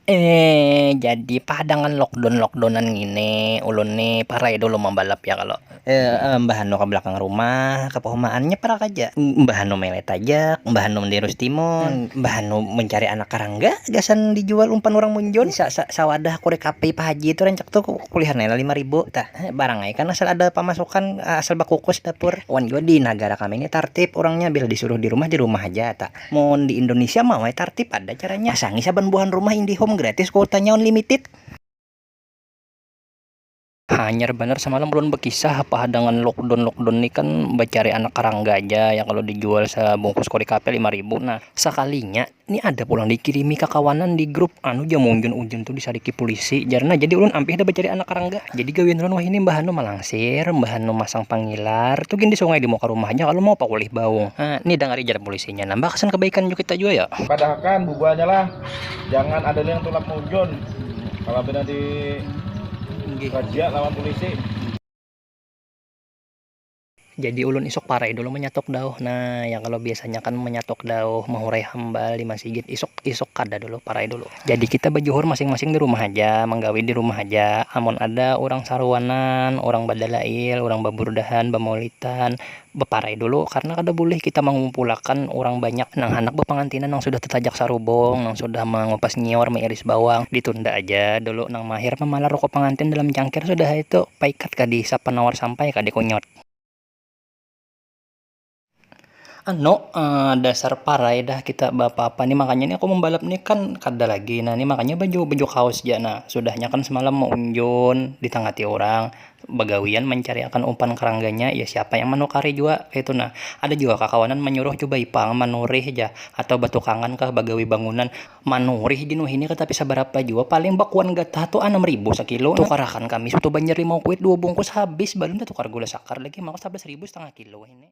Eee jadi pah dangan lockdown lockdownan ngini ulun ni parai dulu mambalap ya kalo mbah anu ka balakang rumah ka pahumaan nya parak aja mbah anu melet tajak mbah anu mandirus timun mbah anu mancari anak karangga gasan dijual umpan urang munjun sa sa sawadah korek api pa haji tu rancak tu kulihan ai lah lima ribu tah barang ai kan asal ada pamasukan asal bakukus dapur wan jua di nagara kami ni tartib urangnya bila disuruh dirumah dirumah haja ta. Mun di Indonesia mah we tartib ada caranya. Pasangi saban buhan rumah Indihome gratis kuotanya unlimited. Hanyar banar samalam ulun bakisah apa hadangan lockdown lockdown ni kan bacari anak karangga ja yang kalu dijual sabungkus korek api lima ribu nah sakalinya ni ada pulang dikirimi kakawanan di grup anu ja munjun ujun tu disariki pulisi jar nah jadi ulun ampih dah bacari anak karangga jadi gawian ulun wahini mbahanu malangsir mbahanu masang pangilar tu gin di sungai di muka rumah ja kalu mau pakulih baung ha ni dangari jar. polisinya nambah kesan kebaikan juga kita juga ya padahkan bubuhannya lah jangan ada yang tulak munjun kalau benar di kerja lawan polisi jadi ulun isok parai dulu menyatok dauh nah yang kalau biasanya kan menyatok dauh mahurai hambal di masigit isok isok kada dulu parai dulu jadi kita bajuhur masing-masing di rumah aja manggawi di rumah aja amun ada orang saruanan orang badalail orang baburdahan bamaulitan baparai dulu karna kada bulih kita mangumpulakan urang banyak nang handak bapangantinan nang sudah tatajak sarubung nang sudah mangupas nyiur mairis bawang ditunda aja dulu nang mahir mamalar ruku pangantin dalam cangkir sudah ai tu paikat kah dihisap panawar sampai kah dikunyut. Anu dasar parai dah kita beapa-apa ni makanya ni aku mambalap ni kan kada lagi na ni makanya baju baju kaos ja na sudahnya kan semalam maunjun ditangati urang Bagawian mancariakan umpan karangganya, ya siapa yang manukari jua kaitu nah. Ada jua kakawanan manyuruh cubai pang manurih jar atau batukangan kah bagawi bangunan. Manurih di nuhini kada tapi sabarapa jua, paling bakuan gatah tu anam ribu sakilo. Tukarakan kami soto banjar limau kuit dua bungkus habis, balum tatukar gula sakar lagi, maka sabelas ribu satangah kilo wahini.